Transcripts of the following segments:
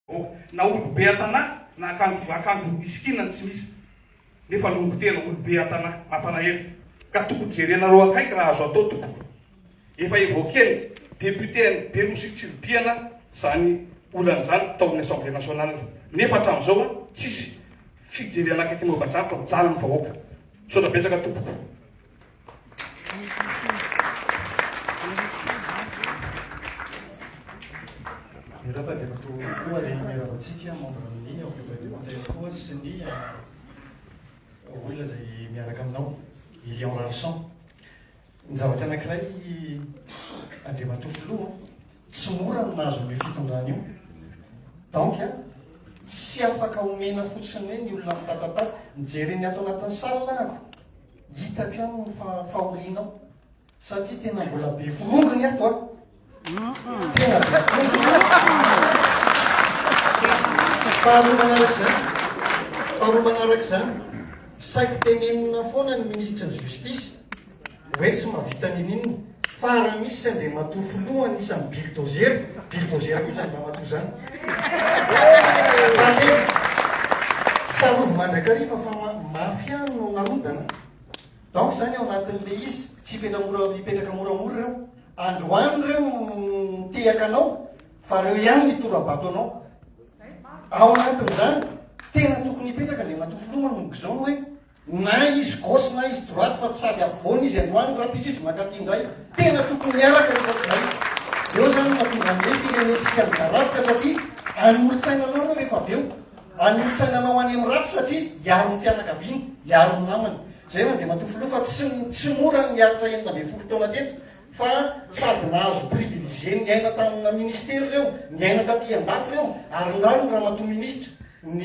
Ok. Na olo be atana na akanjo akanjo isikina no tsy misy. Nefa longo tena olo be atana. Mampalahelo. Ka tokony jerenareo akaiky raha azo atao tompoko. Efa evoquer ny député any be nosy Tsiribihana zany olana zany tao amin'ny assemblée nationale. Nefa hatramin'izao an tsisy fijerena akaiky momba zany fa mijaly ny vahoaka. Misaotra betsaka tompoko. Miraba dia matoa koa le miraba antsika membre amin'ny ao Gouvernemental koa sy ny olona izay miaraka aminao, Elion Rarison. Ny zavatra anankiray Andriamatoa Filoha, tsy mora ny nahazo an'io fitondrana io. Donc tsy afaka omena fotsiny hoe ny olona mitatatata, nijery ny ato anatin'ny salle ako. Hitako ihany ny fahorianao satria tena mbola be forongony ato a! Tena be forongony ato! Faharoa manaraka izany, faharoa manaraka izany, saiky tenenina foana ny Ministry ny Justice hoe tsy mahavita ninoninona. Farany misy tsy Andriamatoa filoha anisan'ny bulldozer, bulldozer koa izany ramatoa izany. Fahatelo, tsarovy mandrakariva fa mafia no narodana. Donc izany ao anatin'ilay izy, tsy hipetra mora, hipetraka moramora ireo. Androany ireo no nitehaka anao fa ireo ihany nitora-bato anao. Ao anatin'izany, tena tokony hipetraka Andriamatoa filoha manomboka izao ny hoe Na izy gauche na izy droite fa tsy sady ampovoany izy androany raha pitridry mankaty indray tena tokony miaraka ny otr'izay eo zany no mahatonga an'ny hoe firenentsika midaraboka satria any olotsaina anao anao rehefa avy eo any olotsaina anao any amin'ny ratsy satria hiaro ny fianakaviany hiaro ny namany zay Andriamatoa Filoha fa tsy tsy mora ny niaritra enina ambin'ny folo taona teto fa sady nahazo privilégié niaina tamina ministera ireo niaina taty andafy ireo ary ny rano ny ramatoa ministra ny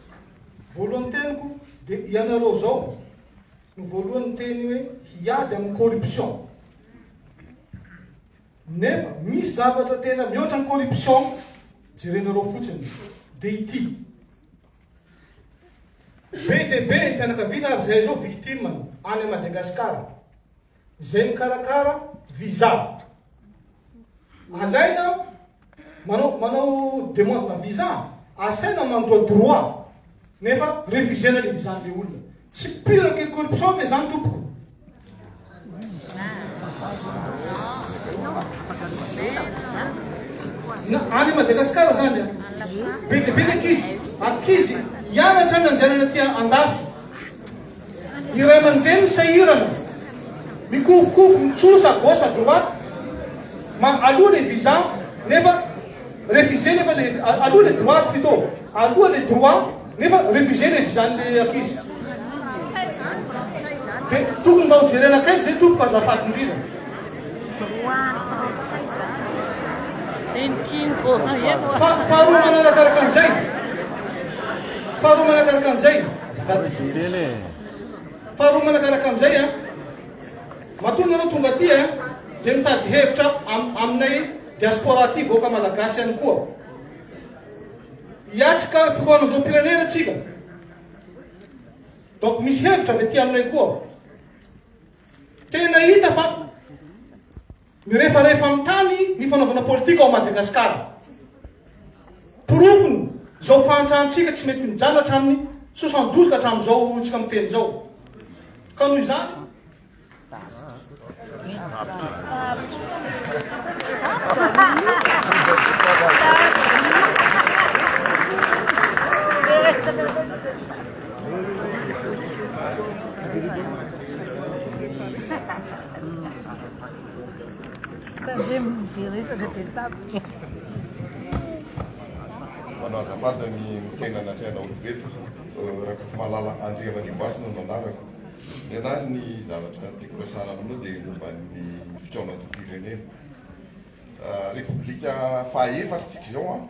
Voalohany teniko dia ianareo zao no voalohany niteny hoe hiady amin'ny corruption. Nefa misy zavatra tena mihoatra ny corruption jerenareo fotsiny dia ity. Be dia be ny fianakaviana ary izay zao victime any Madagascar. Izay mikarakara visa. Alaina manao manao demande na visa, asaina mandoa droit nefa refusena le visa an'le olona. Tsy pure que corruption ve zany tompoko? Na any Madagasikara zany a, be dia be ny ankizy, ankizy hianatra any andehanana aty andafy, Ny ray aman-dreny sahirana, mikovokovo mitsosa gauche à droite, ma aloha le visa nefa refuser nefa le aloha le droit plutôt, aloha le droit nefa refuser le visa-n'le ankizy. Dia tokony mba ho jerena akaiky zay tompoko azafady indrindra. Droit-n'ny frantsay zany. Faharoa manarakaraka an'izay, faharoa manarakaraka an'izay. Faharoa manakaraka an'izay an! Matoa nareo tonga aty an! Dia mitady hevitra aminay diaspora aty vahoaka malagasy ihany koa. Hiatrika fihaonam-boham-pirenena tsika. Donc misy hevitra avy aty aminay koa. Tena hita fa. Mirefarefa amin'ny tany ny fanaovana politika ao Madagasikara. Porofony izao fahantrantsika tsy mety mijanona hatramin'ny soixante douze ka hatramin'izao horontsika miteny izao. Ka noho izany, Manao azafady ny miteny anatrehanao ireto, Rakotomalala Andriamanimbaso no anarako. Nenaha ny zavatra tiako resahana aminao dia momba ny fikaonantom-pirenena. Repoblika faha efatra tsika izao an,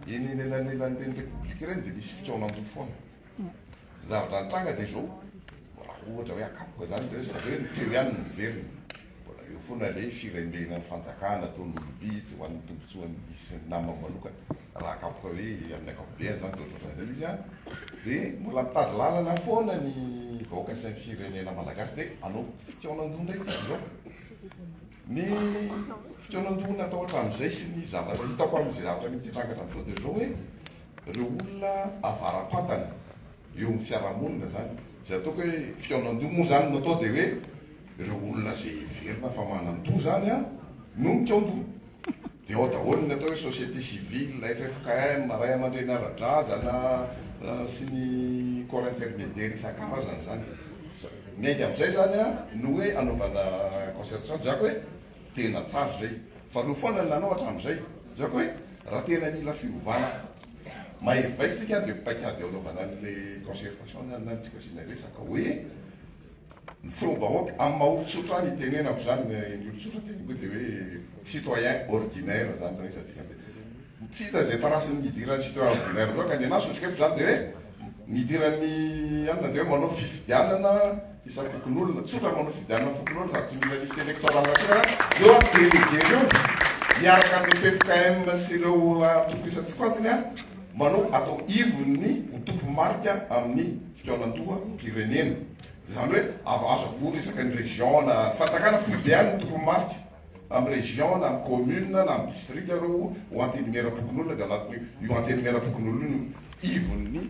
eny anelanelan'ireny repoblika ireny dia misy fikaonandoha foana. Ny zavatra nitranga dia izao, raha ohatra hoe hakapoka izany ny resaka dia hoe ny teo ihany no miverina. Mbola eo foana ilay firembenan'ny fanjakana ataon'ny olom-bitsy ho an'ny tombontsoan'ny isan'ny namany manokana. Raha hakapoka hoe amin'ny ankapobeny izany dia ohatrohatran'ny izay ilay izy an! Dia mbola mitady lalana foana ny vahoaka sy ny firenena malagasy dia hanao fikaonan-doha indray isika izao. Ny fikaonan-doha natao hatramin'izay sy ny zavatra hitako amin'izay zavatra mety hitranga hatramin'izao dia izao hoe Ireo olona avara-pantany eo amin'ny fiarahamonina izany, izay ataoko hoe fihaonan-doha moa izany no atao dia hoe ireo olona izay heverina fa manan-doha izany no mikaon-doha. Dia ao daholo ny atao hoe société civile, ffkm, ray aman-dreny ara-drazana sy ny corps intermédiaire isan-karazany izany. Miainga amin'izay izany no hoe anaovana concertation, diako hoe Tena tsara izay. Fa no foana ny nanao hatramin'izay. Zako hoe raha tena mila fiovana maivay isika ary le paikady eo anaovana an'le concertation na ny tiko asiana resaka hoe ny feom-bahoaka amin'ny maha olon-tsotra any itenenako izany ny olon-tsotra teniko dia hoe citoyen ordinaire izany raha izy adika dia tsy hita izay tarasin'ny nidiran'ny citoyen ordinaire loatra ny anahy sotrikefo izany dia hoe nidiran'ny anona dia hoe manao fifidianana Isan'ny fokonolona, tsotra manao fifidianana fokonolona sady tsy mila liste électorale akory eo an, délégué reo miaraka amin'ny ffkm sy ireo antoko isan-tsokajiny manao atao ivon'ny ho tompo marika amin'ny fikaonandoha mpirenena. Izany hoe ava azo avory isaky ny région na fanjakana foibe any ny tompo marika amin'ny région na amin'ny commune na amin'ny district ireo ho antenimieram-pokonolona dia anatin'io antenimieram-pokonolona io ivon'ny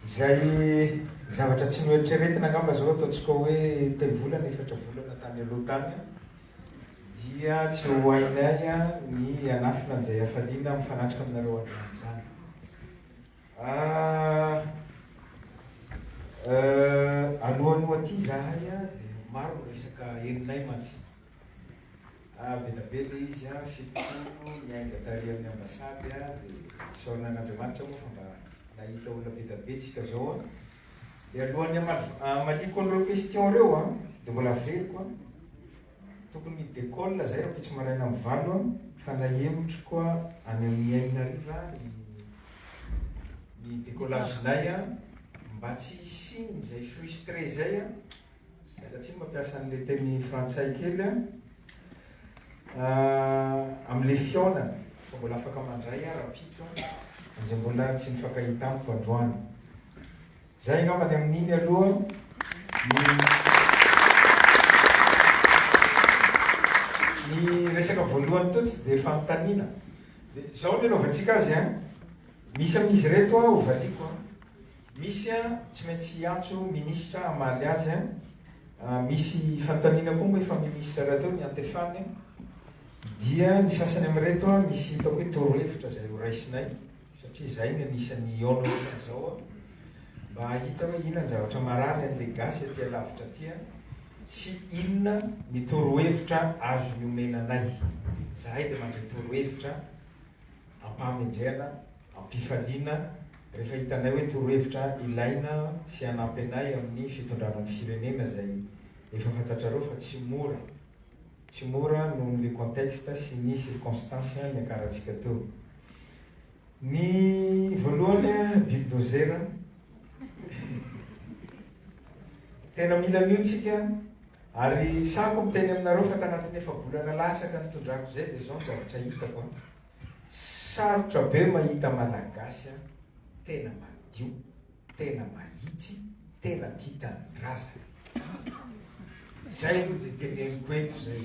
Izay zavatra tsy noeritreretina angamba izao ataontsika hoe telo volana, efatra volana tany aloha tany dia tsy ho hainay ny hanafina an'izay hafaliana mifanatrika aminareo androany izany. Alohan'ny ho aty izahay dia maro ny resaka henonay mantsy. Ah beda be le izy ah fito taona niainga tary amin'ny ambassade ah de isaorana an'Andriamanitra moa fa mba nahita olona beda be tsika zao ah de alohan'ny hamaliako an'ireo question reo ah de mbola averiko ah tokony hi décolle zay rampitso maraina amin'ny valo ah fa nahemotriko ah any amin'ny enina hariva ah ny ny décollage nay ah mba tsy hisian'izay frustre zay ah Miala tsiny mampiasa an'ilay teny frantsay kely an! amin'ilay fihaonana fa mbola afaka mandray aho rahampitso an! izay mbola tsy nifankahita amiko androany. Izay angamba ny amin'iny aloha ny ny resaka voalohany teo tsy dia fanontaniana. Dia izao ny anaovantsika azy an! Misy amin'izy ireto aho hovaliako an! Misy an, tsy maintsy hiantso minisitra hamaly azy an! Misy fanontaniana koa moa efa minisitra rahateo ny antefany an! Dia ny sasany amin'ireto an, misy hitako hoe torohevitra izay ho raisinay, satria izay no anisan'ny hihaona ohatran'izao an! Mba hahita hoe inona ny zavatra marary an'ilay gasy aty alavitra aty an! Sy inona ny torohevitra azony omena anay. Izahay dia mandray torohevitra. am-pahamendrehana, am-pifaliana rehefa hitanay hoe torohevitra ilaina sy hanampy anay amin'ny fitondrana ny firenena izay efa fantatrareo fa tsy mora, tsy mora noho ny le contexte sy ny circonstances niakarantsika teo. Ny voalohany bulldozer, tena mila an'io tsika. Ary sahako miteny aminareo fa tanatin'ny efa-bolana latsaka nitondrako izay dia izao ny zavatra hitako an! Sarotra be mahita Malagasy an! Tena madio, tena mahitsy, tena tia tanindrazana. Izay no dia teneniko eto izay.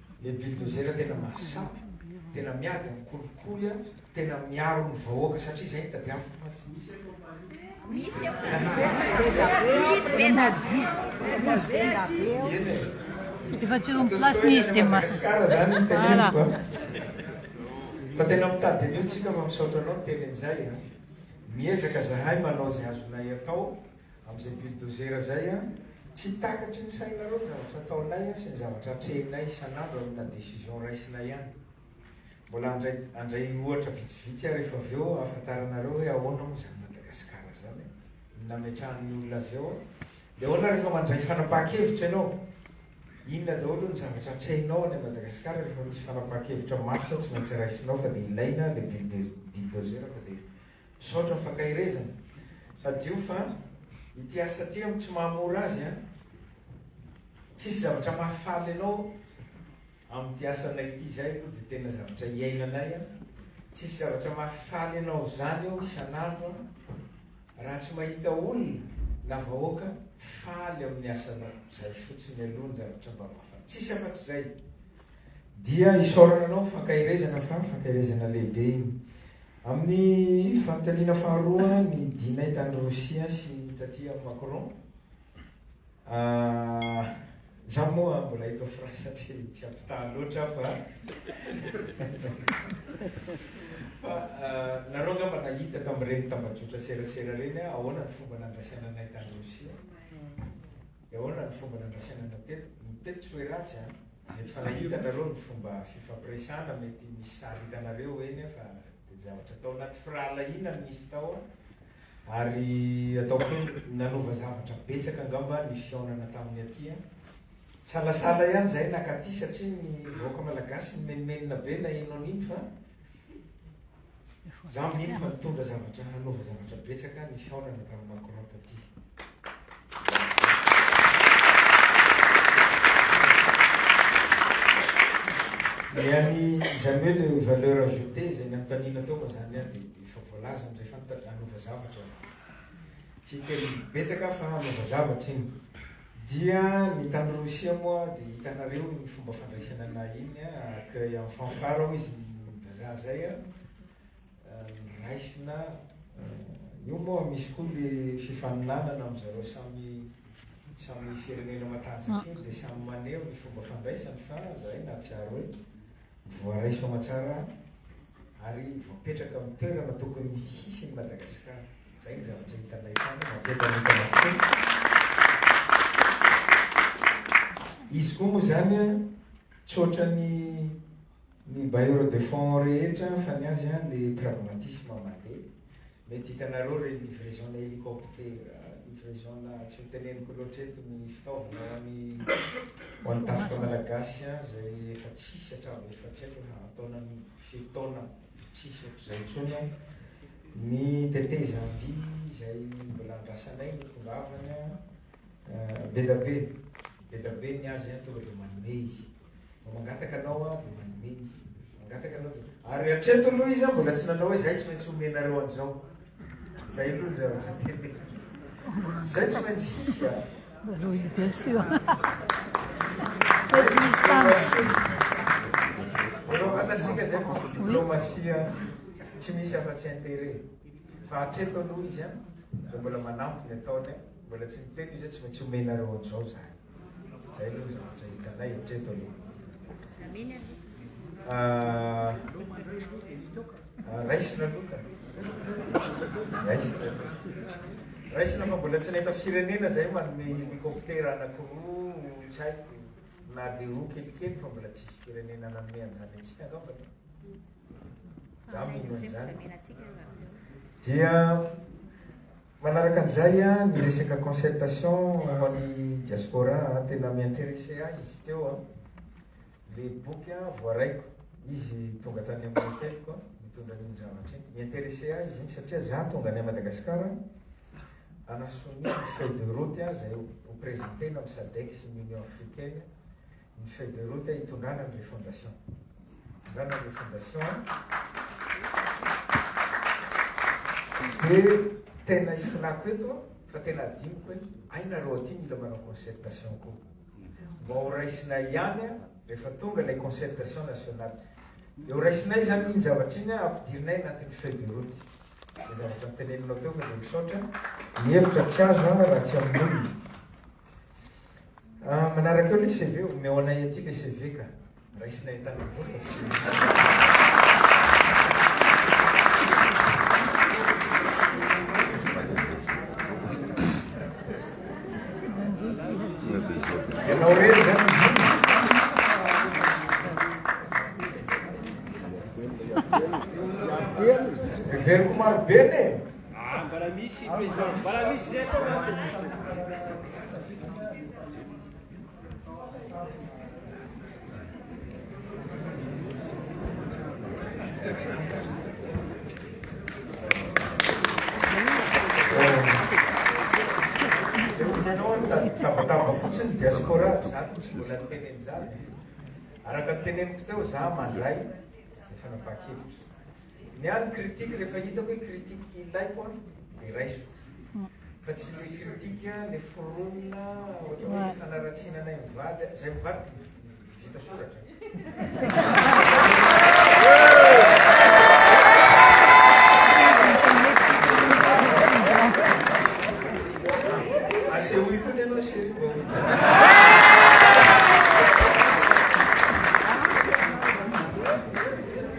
Le bulldozer tena mahasahy, tena miady amin'ny kolikoly a, tena miaro ny vahoaka satria izay no tadiaviko mantsy. Misy eo Efa tsy eo amin'ny place-ny izy dia ma- Madagascar zany no teneniko a. Fa tena mitady an'io tsika fa misaotra anao niteny an'izay a. Miezaka zahay manao izay azonay atao. Amin'izay bulldozer izay an! Tsy takatry ny sainareo ny zavatra ataonay sy ny zavatra atrehinay isan'andro ary na décision raisinay ihany. Mbola handray handray ohatra vitsivitsy aho rehefa avy eo ahafantaranareo hoe ahoana moa izany Madagasikara izany e! Ny nametrahan'ny olona azy eo an! Dia ahoana rehefa mandray fanapahan-kevitra ianao? Inona daholo ny zavatra atrehinao any Madagasikara rehefa misy fanapahan-kevitra mafy fa tsy maintsy raisinao fa dia ilaina ilay bulldozer fa dia Misaotra ny fankaherezana. Hadio fa ity asa ity am tsy maha mora azy an. Tsisy zavatra mahafaly anao am ty asanay ity izay aloha dia tena zavatra iainanay an. Tsisy zavatra mahafaly anao zany eo isan andro an. Raha tsy mahita olona na vahoaka faly am ny asanao. Zay fotsiny aloha ny zavatra mba mahafaly. Tsisy afatr zay. Dia isaorana anao ny fankaherezana fa fankaherezana lehibe iny. Amin'ny fanontaniana faharoa ny Dinay tany Rosia sy ny taty amin'i Macron, izaho moa mbola eto France tsy tsy ampitaha loatra fa fa nareo angamba nahita tamin'ireny tambajotra serasera ireny ahoana ny fomba nandrasana anay tany Rosia. de ahoana ny fomba nandrasaina anao teto? ny teto tsy hoe ratsy an! mety fa nahita nareo ny fomba fifampiresana mety misy sary hitanareo eny fa de javatra tao anaty firahalahiana no nisy tao an! ary ataoko hoe nanova zavatra betsaka angamba ny fihaonana tamin'ny aty an! salasala ihany zahay naka aty satria ny vahoaka malagasy nimenomenona be naheno an'iny fa Za mino fa nitondra zavatra hanova zavatra betsaka ny fihaonana tamin'i Macron taty. Ny an'i izany hoe le valeur ajoutée izay nanontaniana teo moa izany an dia efa voalaza amin'izay fa nitady hanova zavatra. Tsy hiteny betsaka aho fa hanova zavatra iny. Dia ny tany Rosia moa dia hitanareo ny fomba fandraisana anay iny a, accueil en fanfare hoy izy ny vazaha zay a, raisina, io moa misy koa le fifaninanana am zareo samy samy firenena matanjaka iny dia samy maneho ny fomba fandraisany fa zahay nahatsiaro hoe Voaraiso aman-tsara ary voapetraka amin'ny toerana tokony hisy ny Madagasikara. Izay no zavatra hitanay tany, mampientanentana foana. Izy koa moa izany tsy ohatran'ny ny bailleurs de fonds rehetra fa ny azy le pragmatisme mandeha. Mety hitanareo re livraison na helicoptera, livraison na tsy ho teneniko loatra eto ny fitaovana ho an'ny ho an'ny tafika malagasy izay efa tsisy hatramin'ny efa tsy haiko efa an-taona firy taona tsisy ohatr'izay intsony an, ny tetezamby izay mbola andrasanay no tongavany an, bedabe, bedabe ny azy an, tonga dia manome izy. Vao mangataka anao aho dia manome ny. Mangataka anao dia. Ary hatreto aloha izy mbola tsy nanao hoe izay tsy maintsy homenareo an'izao. Izay aloha ny zavatra teny. Izay tsy maintsy hisy a. Rohy bien sûr. Faites distance. Efa fantatsika izay fa diplomasia tsy misy afa-tsy intérêt. Fa hatreto aloha izy a, dia mbola manampy ny ataony a, mbola tsy niteny izy hoe tsy maintsy homenareo an'izao izahay. Zay aloha zavatra hitanay hatreto aloha. Amin aloha. Ah, ah, raisina aloha ka. Raisina. Raisina fa mbola tsy nahita firenena zay manome hélicoptère anankiroa tsy haiko na dia roa kelikely fa mbola tsisy firenena nanome an'izany antsika angamba e. Za mino an'izany. Dia Manaraka an'izay an, ny resaka concertation ho an'ny diaspora an, tena mi-interesser ahy izy teo an, le boky an voaraiko, izy tonga tany amin'ny hôtelko an, nitondra an'iny zavatra iny, mi-interesser ahy izy iny satria za tonga any a Madagascar an, hanasonia ny feuille de route an izay ho presentena amin'ny sadec sy ny union africaine, ny feuille de route hitondrana ny refondation. Hitondrana ny refondation dia tena hifinako eto fa tena adinoko hoe hay nareo aty mila manao concertation koa. Mba ho raisinay ihany rehefa tonga ilay concertation nationale. Dia ho raisinay izany iny zavatra iny ampidirinay anatin'ny feuille de route. Izay zavatra niteneninao teo fa dia misaotra. Ny hevitra tsy azo raha tsy amin'ny olona. Ah, manaraka eo le CV, omeo anay aty le CV ka. Raisinay tany avoa fa tsy. Ianao rery zany izy. Heveriko maro be ne. Ah, mbola misy président, mbola misy zay foana. Tabataba fotsiny diaspora, za tsy mbola niteny an'izany. Araka ny teneniko teo, za mandray izay fanapahan-kevitra. Ny ahy ny critique rehefa hitako hoe critique ilaiko an dia raisiko. Fa tsy ilay critique ilay foronina ohatra hoe ny fanaratsiana anay mivady an, izay mivady vita soratra. Asehoy koa ny anao chérie vao hita.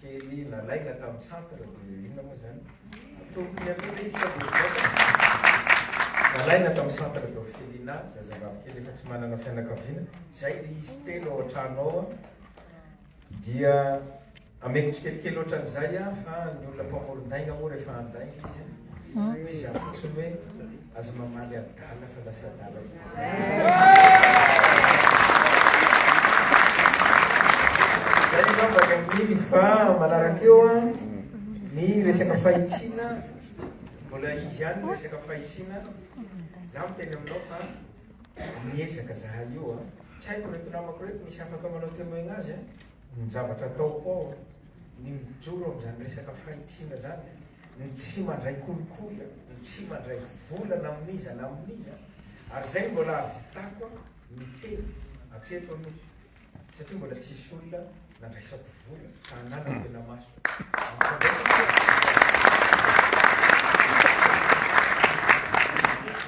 Kely nalaina tamin'ny centre de inona moa izany? Ataovy ny aloha izy sao dia mivoaka. Nalaina tamin'ny centre d'orphelinat, zazavavy kely efa tsy manana fianakaviana. Izay ilay izy telo ao an-trano ao. Dia ameko tsikelikely ohatran'izay aho fa ny olona mpamoron-dainga moa rehefa handainga izy, hoy izy aho fotsiny hoe. Aza mamaly adala fa lasa adala mihitsy. Zay fa manaraka eo ny resaka fahitsiana mbola izy ihany ny resaka fahitsiana za miteny aminao fa miezaka zahay io a tsy haiko reto namako reto misy afaka manao témoignage Ny zavatra ataoko ao ny mijoro amin'izany resaka fahitsiana izany, ny tsy mandray kolikoly, ny tsy mandray vola na amin'iza na amin'iza, ary izay no mbola ahavitako miteny hatreto aloha satria mbola tsisy olona nandraisako vola ka hananako ela maso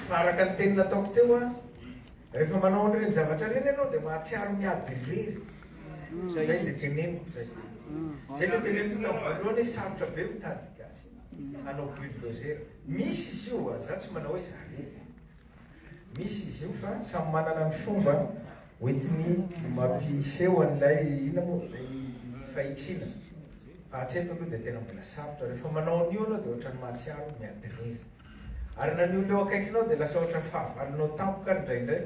fa araka ny teny nataoko teo a rehefa manao an'ireny zavatra ireny ianao dia mahatsiaro miady irery Zay de teneniko zay. Zay le teneniko tam voalohany hoe sarotra be mitady gasy hanao bulldozer. Misy izy io a, za tsy manao hoe zany e. Misy izy io fa samy manana ny fomba hoentiny mampiseho an'ilay inona moa ilay fahitsiana. Fa hatreto aloha de tena mbola sarotra. Rehefa manao an'io anao de ohatran'ny mahatsiaro miady rery. Ary na ny olona eo akaikinao dia lasa ohatran'ny fahavalonao tampoka ary indraindray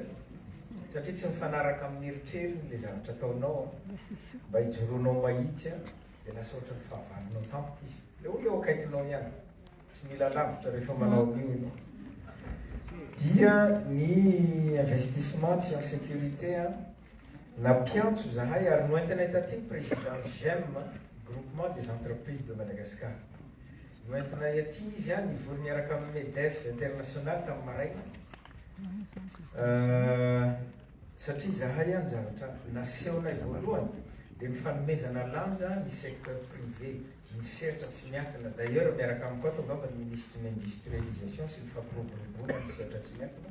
satria tsy mifanaraka amin'ny eritreriny ilay zavatra ataonao an. Mba hijoroanao mahitsy an, dia lasa ohatran'ny fahavalonao tampoka izy. Ilay olona eo akaikinao ihany. Tsy mila lavitra rehefa manao an'io ianao. Dia ny investissement tsy en sécurité an, nampiantso izahay ary noentinay taty ny président GEM, Groupement des Entreprises de Madagascar. Noentinay aty izy, nivory niaraka amin'ny Medef International tamin'ny maraina, satria izahay ny zavatra nasehonay voalohany dia ny fanomezana lanja ny secteur privé, ny sehatra tsy miankina, d'ailleurs miaraka amiko ato angamba ny Minisitry ny Industrialisation sy ny Fampiroboroboana ny sehatra tsy miankina,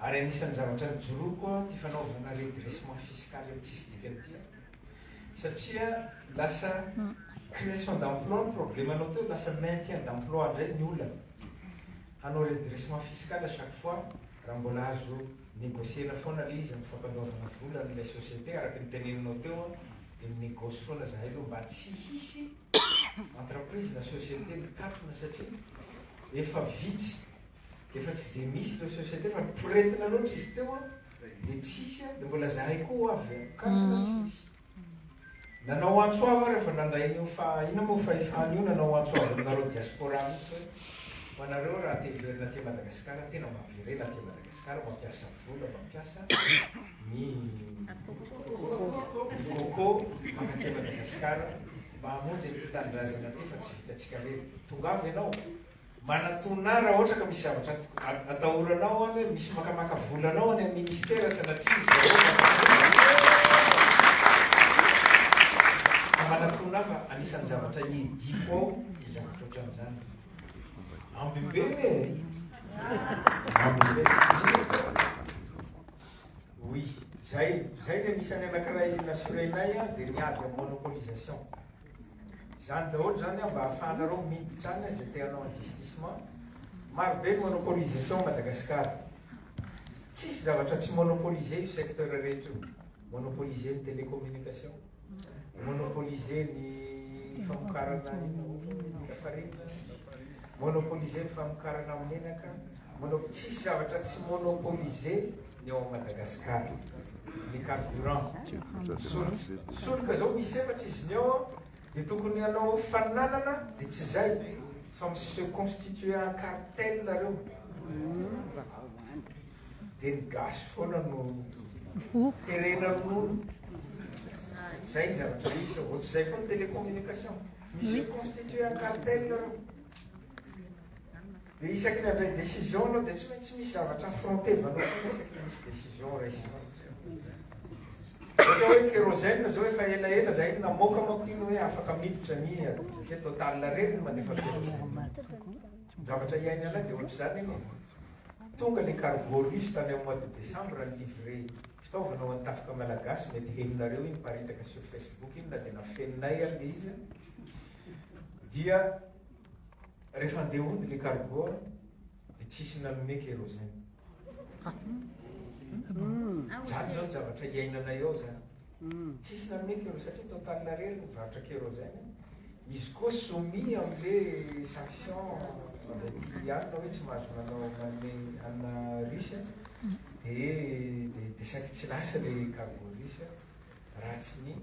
Ary anisan'ny zavatra nijoroako koa ity fanaovana redressement fiscal io tsisy dikany ity an! Satria lasa création d'emploi ny problemanao teo, lasa maintien d'emploi indray ny olana. Hanao redressement fiscal à chaque fois raha mbola azo negocier-na foana ilay izy amin'ny fampandoavana vola an'ilay société araka ny teneninao teo an, dia mi-negoce foana izahay aloha mba tsy hisy entreprise na société mikatona satria efa vitsy Efa tsy dia misy ilay société fa poretina loatra izy teo an, dia tsisy an, dia mbola zahay koa ho avy an, kankana tsy misy. Nanao antso avo aho rehefa nandray an'io fa inona moa fahefana io, nanao antso avo aminareo diaspora mihitsy hoe ho anareo raha te hiverina aty Madagasikara, tena mba miverena aty Madagasikara, mampiasa vola, mampiasa ny coco mankaty Madagasikara mba hamonjy an'ity tanindrazana ity fa tsy vitantsika irery. Tongava ianao. Manatona ahy raha ohatra ka misy zavatra atahoranao any hoe misy makamaka vola anao any amin'ny ministera sanatria izy ireo ka manatona ahy fa anisan'ny zavatra iediko ao ny zavatra ohatran'izany. Ambively e! Ambively. Oui, zay, zay ny anisan'ny anankiray na surena-y dia ny ady amin'ny monopolisation. Izany daholo izany mba ahafahanareo miditra any izay te hanao investissement. Marobe ny monopolisation à Madagascar. Tsisy zavatra tsy monopoliser io secteur rehetra io. Monopoliser ny télécommunication, monopoliser ny famokarana inona moa moa ny lafarina, monopoliser ny famokarana menaka, mono- tsisy zavatra tsy monopoliser ny ao Madagascar ny carburant solika solika zao misy efatra izy ny ao de tokony hanao fananana de tsy zay fa mi se constituer en cartel nareo de ny gasy foana no terena ronono zay ny zavatra misy ohatry zay koa ny télécommunication mi se constituer en cartel nareo Dia isaky ny handray décision anao dia tsy maintsy misy zavatra affrontevanao foana isaky ny misy décision raisinao. Ohatra hoe kérosène zao efa ela ela zahay namoaka manko iny hoe afaka miditra ny satria total reny no mandefa kérosène. Zavatra iainanay dia ohatr'izany anie. Tonga le cargo russe tany amin'ny mois de décembre ny livré fitaovana ho an'ny tafika malagasy mety henonareo iny miparitaka sur Facebook iny na dia nafeninay ary le izy dia Rehefa handeha hody le cargo de tsisy nanome kérosène. Zany zao zavatra iainanay ao zany. Tsisy nanome kérosène satria total rery ny varotra kérosène. Izy koa soumis amle sanction avy aty alina hoe tsy mahazo manao manome anina russe de de saiky tsy lasa le cargo russe. Raha tsy ny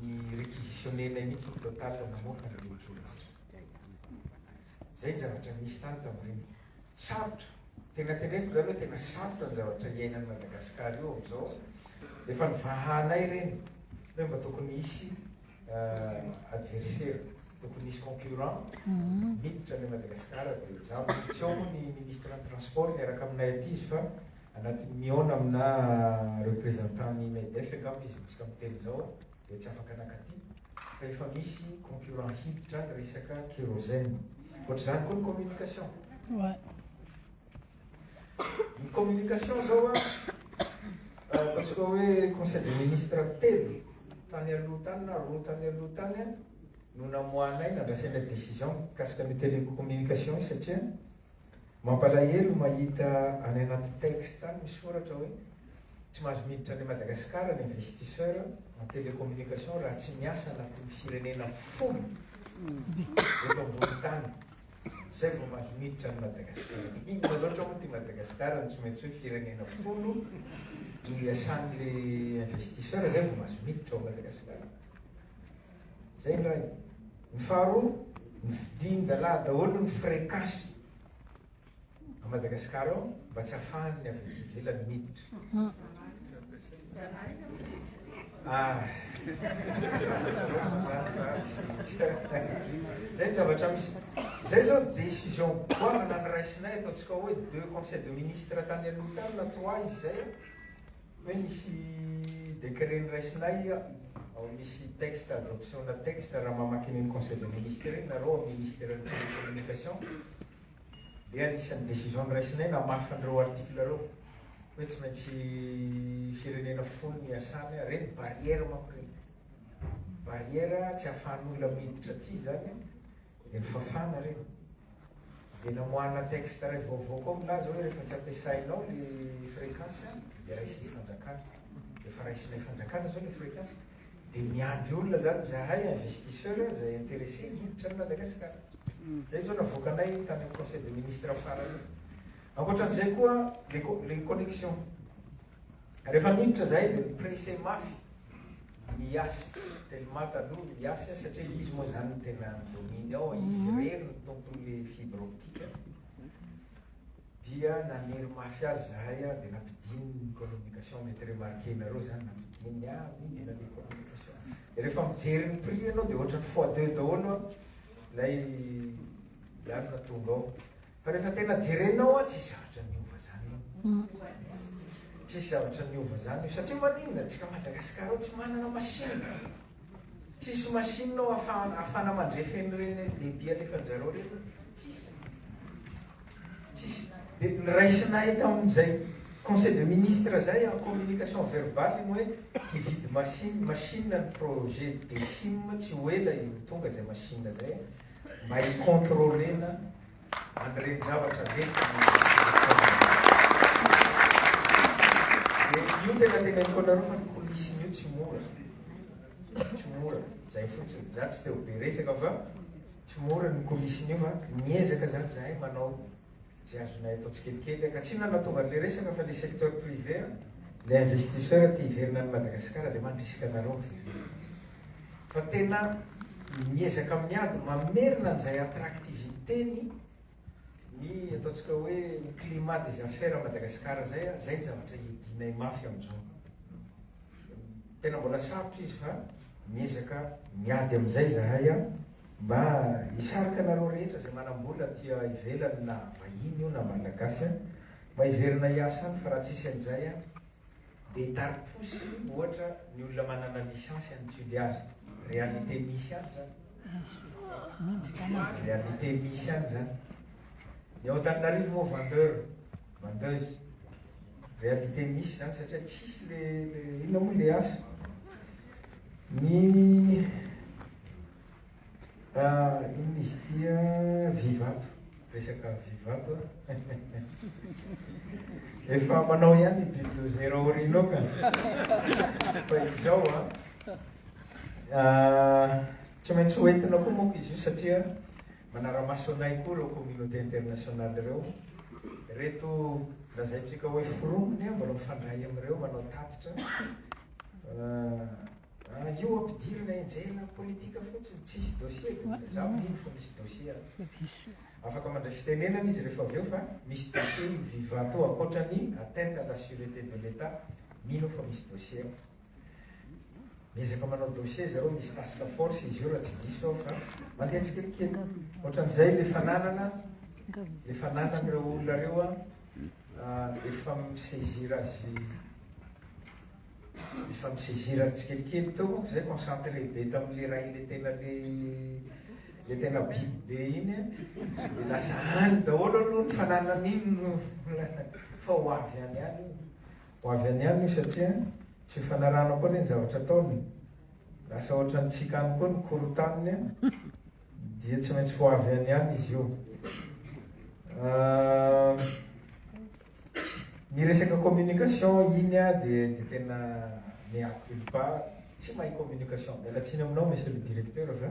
ny requisitionner-nay mihitsy ny Total namoaka ny Loholona Zay. Zay ny zavatra nisy tany tam'ireny. Sarotra. Tena teneniko zany hoe tena sarotra ny zavatra iainan'i Madagascar io am'zao. Efa nivahanay ireny hoe mba tokony hisy adversaire, tokony hisy concurrent miditra any Madagascar dia zany. Tsy ao moa ny Ministre ny Transport miaraka aminay aty izy fa Anatin'ny mihaona aminà representant-n'ny Medef angamba izy no tsy ka miteny izao dia tsy afaka nankaty fa efa misy concurrent hiditra ny resaka kérosène. Ohatr'izany koa ny communication. Ny communication izao ataontsika hoe conseil des ministres telo tany aloha tany na roa tany aloha tany no namoahanay nandraisanay décision mikasika an'io télécommunication io satria Mampalahelo mahita any anaty texte any misoratra hoe tsy mahazo miditra any à Madagascar ny investisseur en télécommunication raha tsy miasa anatin'ny firenena folo eto ambony tany zay vao mahazo miditra any Madagascar inona loatra moa ty Madagascar no tsy maintsy hoe firenena folo no iasan'le investisseur zay vao mahazo miditra ao Madagascar Zay indray. Ny faharoa, ny fidin-dalahy daholo ny frais cash à Madagascar ao mba tsy afahan'ny avy aty ivelany miditra. Ah. Zay ny zavatra misy. Zay zao décision goavana noraisinay ataontsika hoe deux conseils de ministres tany aloha tany na trois izy zay. Hoe misy décret noraisinay ao misy texte adoption na texte raha mamaky an'iny conseil des ministres iny nareo ao ministère-n'ny télécommunication dia anisan'ny décision noraisinay namafy an'ireo article ireo hoe tsy maintsy firenena folo ny iasana ireny barrière manko ireny barrière tsy ahafahan'olona miditra aty izany Ry Fafana re, dia namoahana texte iray vaovao koa milaza hoe rehefa tsy ampiasainao le fréquence dia raisin'ny fanjakana. Efa raisinay fanjakana zao le fréquence. Dia miandry olona zany zahay investisseur izay intéressé hiditra any Madagascar. Zay zao navoakanay tany amin'ny conseil de ministre farany io. Ankoatran'izay koa le le connexion. Rehefa niditra izahay dia ni-pressé mafy ny Yas, tellement taloha ny Yas satria izy moa izany no tena domine ao, izy irery no tompon'ilay fibre optique, dia nanery mafy azy izahay dia nampidininy ny communication, mety remarquer-nareo izany, nampidininy, ah oui mila ilay communication, dia rehefa mijery ny prix ianao dia ohatran'ny fois deux daholo ilay lalina tonga ao, Fa rehefa tena jerenao an, tsisy zavatra niova zany io. Tsisy zavatra niova zany io. Satria maninona? Antsika Madagascar ao tsy manana machine. Tsisy machine ao afahana, afahana mandrefy an'ireny debit alefanjareo ireny. Tsisy. Tsisy. Dia niraisinay tamin'izay conseil de ministre zay en communication verbale iny hoe hividy machine, machine ny projet DSIM tsy ho ela io tonga zay machine zay. mba hi-contrôler-na an'ireny zavatra mety dia io tena teneniko anareo fa ny coulisses-ny io tsy mora tsy mora zay fotsiny za tsy te-ho be resaka fa tsy mora ny coulisses-ny io fa miezaka zany zahay manao Izay azonay atao tsikelikely ka tsy nanatonga an'ilay resaka fa le secteur privé an, le investisseur te hiverina any Madagascar de mandrisika anareo miverena. Fa tena miezaka miady mamerina an'izay attractivité ny ny ataontsika hoe ny climat des affaires à Madagascar zay an, zay ny zavatra iadianay mafy amin'izao. Tena mbola sarotra izy fa miezaka miady amin'izay zahay an. Mba hisarika anareo rehetra izay manambola aty ivelany na vahiny io na malagasy an, mba hiverina hiasa any fa raha tsisy an'izay an dia hitari-posy ohatra ny olona manana licence any Tuliary. Réalité misy any izany. Réalité misy any izany. Ny ao Antananarivo moa vendeur, vendeuse. Réalité misy izany satria tsisy le inona moa le asa. Ny. Ah inona izy ity ah, vivato, resaka vivato ah. Efa manao ihany ny bulldozer ao aorianao ka. Fa izao ah, ah, tsy maintsy hoentina koa moa izy io satria manara-maso anay koa ireo communauté internationale ireo. Reto lazaintsika hoe forongony ah, mbola mifandray amin'ireo manao tatitra. Ah, Raha io ampidirina henjehina politika fotsiny tsisy dossier de mbola za mino fa misy dossier any. Afaka mandray fitenenana izy rehefa avy eo fa misy dossier io viva to ankoatra ny atteinte à la surete de l'etat mino aho fa misy dossier ao. Miezaka manao dossier zareo misy task force izy io raha tsy diso aho fa mandeha tsikelikely. Otran'izay le fananana le fananan'ireo olona reo an efa mi saisir azy Nifampisezirana tsikelikely teo manko zay, concentré be tam le ray le tena le le tena biby be iny a, de lasa any daholo aloha ny fananana iny no fa ho avy any any io, ho avy any any io satria tsy hifanarahana koa anie ny zavatra ataony e, lasa ohatran'ny tsika any koa ny korontaniny a, dia tsy maintsy ho avy any any izy io. Ny resaka communication iny ah dia dia tena mea culpa tsy mahay communication miala tsiny aminao monsieur le directeur fa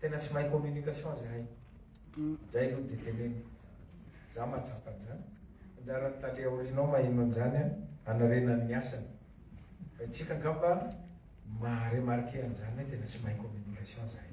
tena tsy mahay communication zahay indray aloha dia teneniko za mahatsapa an'izany anjaran'ny tale aorianao maheno an'izany an hanarenany ny asany fa itsika angamba maha remarquer an'izany hoe tena tsy mahay communication zahay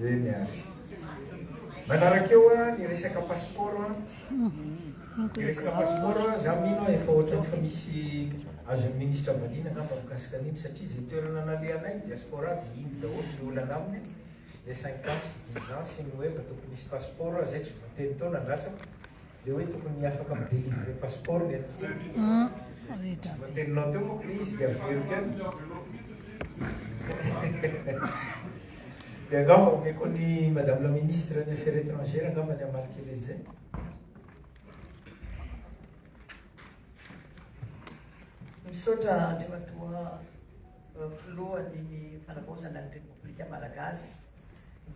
Eny ary. Manaraka eo an, ny resaka passeport an. Ny resaka passeport an, za mino an, efa ohatran'ny efa misy azon'ny ministra valiana angamba mikasika an'iny satria izay toerana nalehanay ny diaspora dia iny daholo ny olana aminy le cinq ans sy dix ans sy ny hoe mba tokony hisy passeport an, zay tsy voatenin'ny teo nandrasako. Le hoe tokony afaka mi delivrer passeport ny aty e. Voateninao teo manko le izy de averiko any. De angamba omeko ny madame la ministre ny affaires étrangères angamba ny hamaly kely an'izay. Misaotra Andriamatoa. Filohan'ny Fanavaozana ny Repoblika Malagasy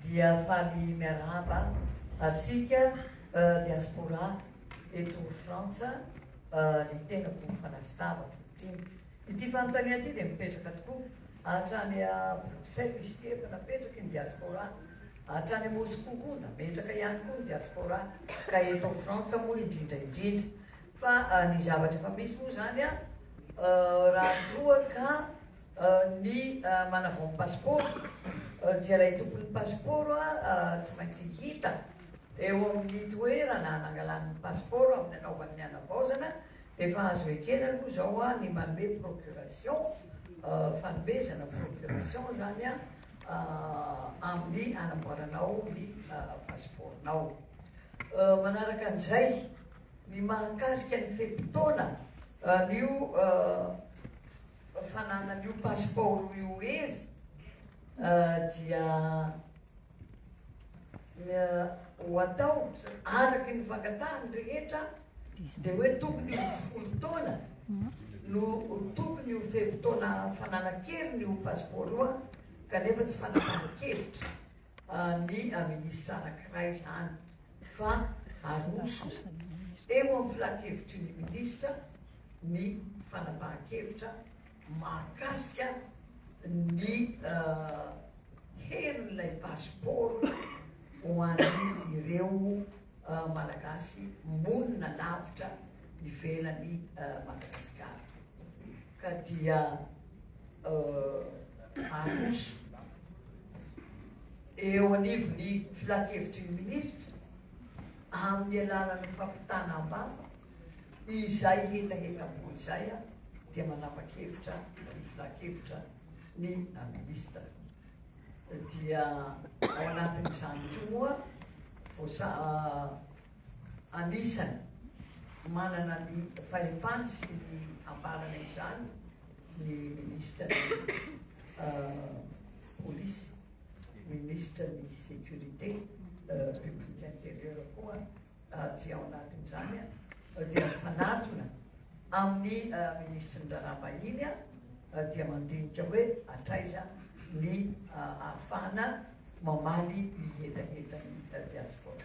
dia faly miarahaba antsika Diaspora eto Frantsa ny tenako fanatri-tava ankehitriny. Ity fanontaniana ity dia mipetraka tokoa hatrany à Bruxelles izy ity efa napetraky ny Diaspora hatrany à Moscou koa nametraka ihany koa ny Diaspora ka eto Frantsa moa indrindra indrindra fa ny zavatra efa misy moa izany Raha toa ka ny manavao ny pasipaoro dia ilay tompon'ny pasipaoro tsy maintsy hita eo amin'ny toerana nangalany ny pasipaoro amin'ny hanaovany ny hanavaozana dia efa azo ekena aloha izao ny manome procuration, fanomezana procuration izany amin'ny hanamboaranao ny pasipaoronao. Manaraka an'izay. Ny mahakasika ny fe-potoana an'io fananan'io pasipaoro io hery dia ho atao araky ny fangatahany rehetra dia hoe tokony ho folo taona no tokony ho fe-potoana fananakeriny ho pasipaoro kanefa tsy fananankevitra ny minisitra anankiray izany. fa aroso eo amin'ny filankevitry ny minisitra ny fanapahan-kevitra mahakasika ny herin'ilay pasipaoro ho an'ireo Malagasy monina lavitra ivelan'i Madagasikara. Ka dia aroso. eo anivon'ny Filankevitry ny Minisitra amin'ny alalan'ny fampitana am-bava izay hetahetam-po izay dia manapa-kevitra ny Filankevitra ny Minisitra dia ao anatin'izany koa moa voasa anisany manana ny fahefany sy ny ambarana izany ny Minisitra ny Polisy. Ministra ny sécurité publique intérieure koa aty ao anatin'izany dia mifanatona amin'ny Ministry ny raharaha vahiny dia mandinika hoe hatraiza ny ahafahana mamaly ny hetahetan'ny diaspora.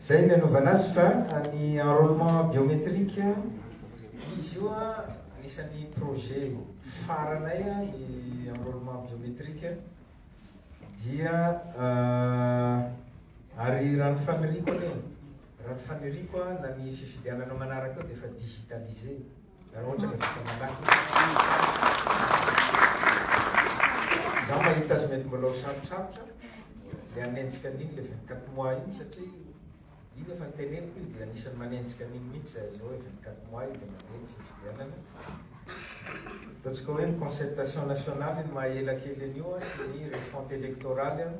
Zay ny anaovana azy fa ny enrolement biometrique izy io anisan'ny projet faranay ny enrolement biometrique dia ary raha ny faniriako anie raha ny faniriako na ny fifidianana manaraka eo dia efa digitalisé. Za mahita azy mety mbola ho sarotsarotra le hanenjika an'iny le 24 mois iny satria iny efa niteneniko iny dia anisan'ny manenjika an'iny mihitsy zay zao hoe 24 mois iny dia mandeha ny fifidianana. Ataontsika hoe ny concertation nationale iny maha ela kely an'io an, sy ny refonte électorale an,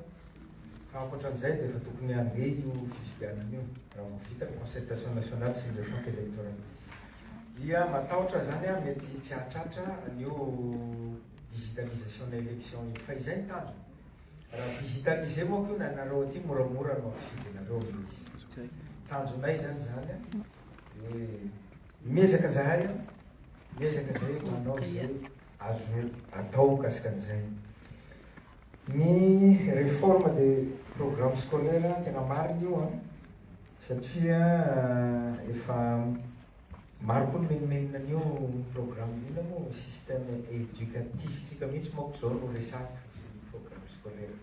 fa ankoatran'izay dia efa tokony handeha io fifidianana io raha vao vita ny concertation nationale sy ny refonte électorale. dia matahotra zany aho mety tsy hahatratra an'io digitalisation ana election io fa izay ny tanjona raha digitaliser manko io na nareo aty moramora no ampifidianareo anie izy tanjonay zany zany a hoe miezaka zahay a miezaka zay manao zay azo atao mikasika an'izay ny reforme de programme scolaire tena marina io a Satria efa maro koa ny menomenona an'io programme io na moa système éducatif tsika mihitsy manko zao no resahana fa tsy ny programme scolaire.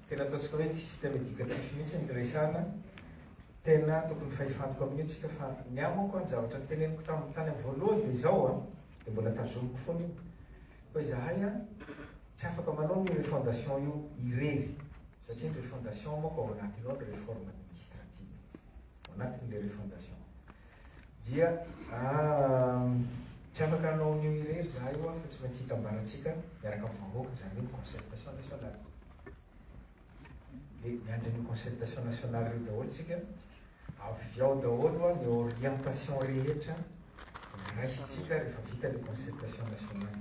Tena ataontsika hoe tsy système éducatif mihitsy ny resahana, tena tokony fahefantoka amin'io tsika fa ny ahy manko an zavatra niteneniko taminy tany amin'ny voalohany dia izao an, dia mbola tazomiko foana io, hoe zahay an tsy afaka manao ny refondation io irery, Satria ny refondation manko ao anatiny ao ny reforme administrative ao anatiny ilay refondation dia tsy afaka hanao an'io irery za io fa tsy maintsy hitambarantsika miaraka amin'ny vahoaka izany hoe ny concertation nationale dia miandry an'io concertation nationale io daholo tsika avy ao daholo ny orientation rehetra raisintsika rehefa vita ny concertation nationale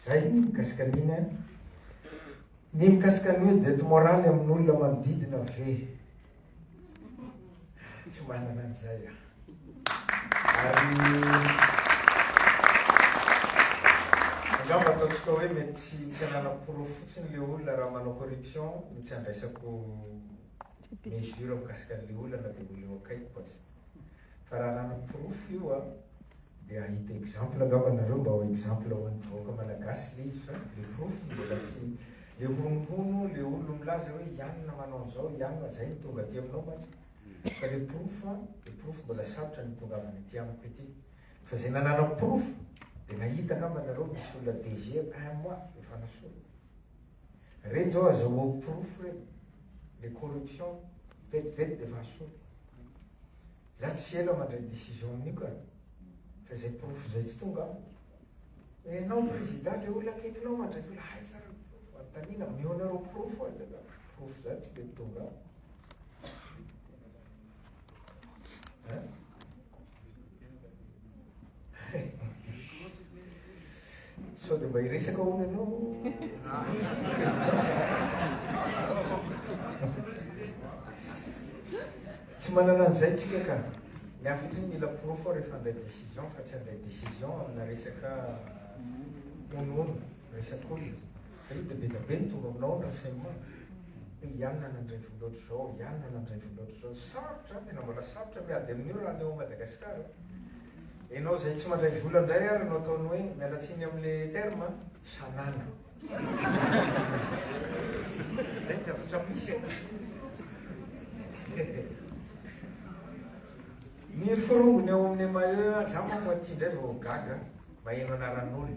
zay mikasika an'iny Ny mikasika ny hoe dette morale amin'olona manodidina ve? Tsy manana an'izay aho. Ary angamba ataontsika hoe mety tsy tsy ananam-porofo fotsiny le olona raha manao corruption no tsy andraisako mesure mikasika an'le olona na dia olona eo akaikiko aza. Fa raha ananam-porofo io an, Ndeha hahita exemple angamba nareo mba ho exemple ho an'ny vahoaka malagasy le izy fa le porofo no mbola tsy le honohono le olona milaza hoe ianona manao an'izao ianona zay no tonga aty aminao mantsy fa le porofo an le porofo mbola sarotra ny hitongavana aty amiko ity fa zay nanana porofo de nahita angamba nareo misy olona DG un mois efa nasorina reny zao azahoako porofo reny le corruption vetivety de efa asorina Za tsy ela mandray décision amin'io ka! Fa zay porofo zay tsy tonga aho. Enao président le olona akaikinao mandray vola aiza le porofo? Anontanina ameo nareo porofo aza ka! Porofo zany tsy mety tonga aho. Hein? Sao dia mba hiresaka hono ianao? Tsy manana an'izay tsika ka. Ny ahy fotsiny mila porofo aho rehefa handray décision fa tsy handray décision amina resaka honohono, resak'olona. Fa io dia be dia be ny tonga aminao ny renseignement. Hoe ianona nandray vola ohatr'izao, ianona nandray vola ohatr'izao. Sarotra, tena mbola sarotra miady amin'io raha ny ao Madagasikara. Enao zay tsy mandray vola ndray ary no ataony hoe miala tsiny am le terme a! Sanana. Zay ny zavatra misy e! Hehe. Ny forongony ao aminy maillot aza manko aty ndray vao gaga maheno anaran'olona.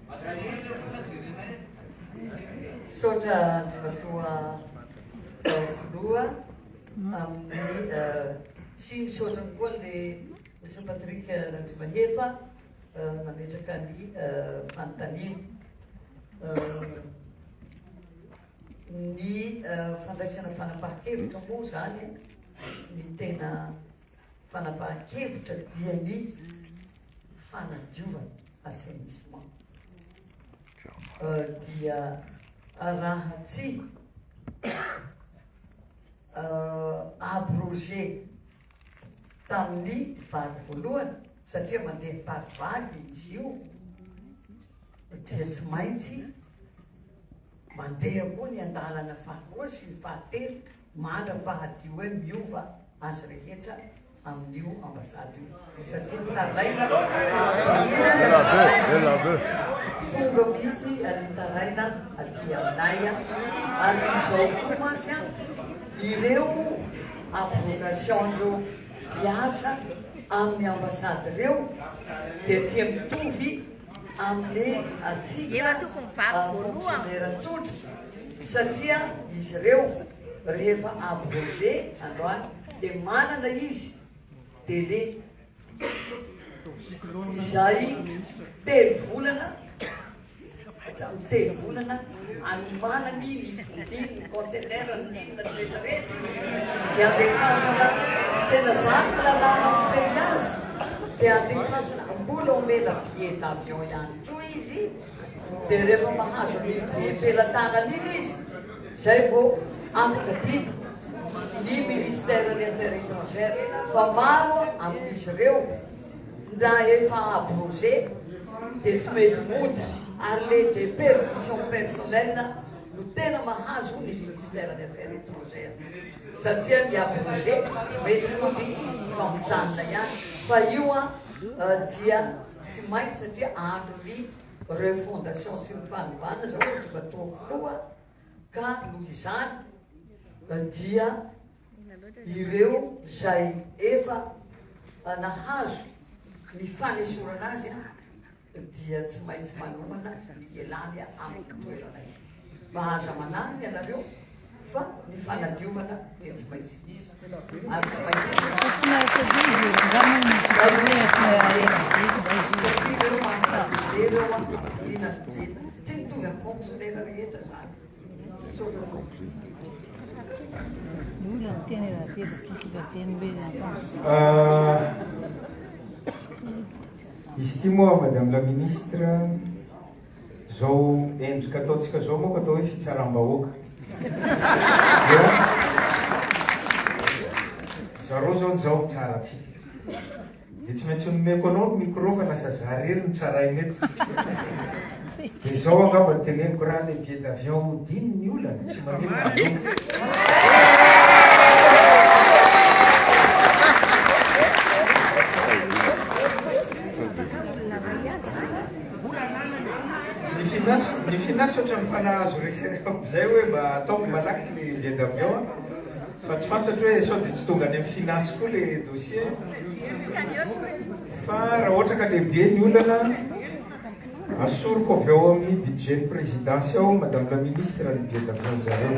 Misaotra Andriamatoa Filoha amin'ny sy misaotra koa le Monsieur Patrick Randriamahefa nametraka ny fanontaniana. Ny fandraisana fanapahan-kevitra moa zany ny tena Fanapahan-kevitra dia ny fanadiovana, assainissement, dia raha tsy abroger tamin'ny vague voalohany satria mandeha par vague izy io dia tsy maintsy mandeha koa ny andalana faharoa sy ny fahatelo Mandra-pahadio hoe miova azy rehetra amin'io ambasady io satria mitaraina tonga mihitsy ary mitaraina aty aminay ary izao koa mantsy a ireo abrogation-dreo mpiasa amin'ny ambasady ireo dia tsy mitovy amin'ny antsika fonctionnaires tsotra satria izy ireo rehefa abroger androany dia manana izy délai izay telo volana hatramin'ny telo volana anomanany ny vonjiny ny contenaire ny olona rehetra rehetra dia ampiakazana tena zany ny lalàna mifehy azy dia ampiakazana mbola omena billet d'avion ihany koa izy dia rehefa mahazo an'iny billet pelatanana iny izy zay vao afaka didy ny ministère des affaires étrangères fa maro amin'izy ireo Na efa à projet dia tsy mety mody ary le deperdition personnelle no tena mahazo ny ministère ny affaires etrangères satria ny à projet tsy mety mody fa mijanona ihany fa io an dia tsy maintsy satria andro ny refondation sy ny fanovana zao ohatra matoa filoha ka noho izany dia ireo izay efa nahazo ny fanesorana azy dia tsy maintsy manomana ny ialany amin'ny toerana io. Mahaza manarina ianareo fa ny fanadiovana dia tsy maintsy misy. Ary tsy maintsy Satria ireo manana fijery eo amin'ny fanampiana ny dieta. Tsy mitovy amin'ny fonctionnaire rehetra izany. Izy ity moa madame la ministre, izao endrika ataontsika izao moa atao hoe fitsaram-bahoaka. Dia zareo izao nizaho mitsara antsika. Dia tsy maintsy nomeko anao ny micro fa lasa za rery no tsaraina eto. Dia zao angamba no teneniko, raha le billet d'avion hodiny ny olana, tsy maninona aleoko. Ny finance, ny finance ohatran'ny fanahy azo resy zay hoe mba ataovy malaky ny billet d'avion. Fa tsy fantatro hoe sao dia tsy tonga any amin'ny finasy koa ilay dossier. Fa raha ohatra ka lehibe ny olana, asoriko avy ao amin'ny budget-n'ny présidence ao, Madame la Ministre, ny billet d'avion zareo.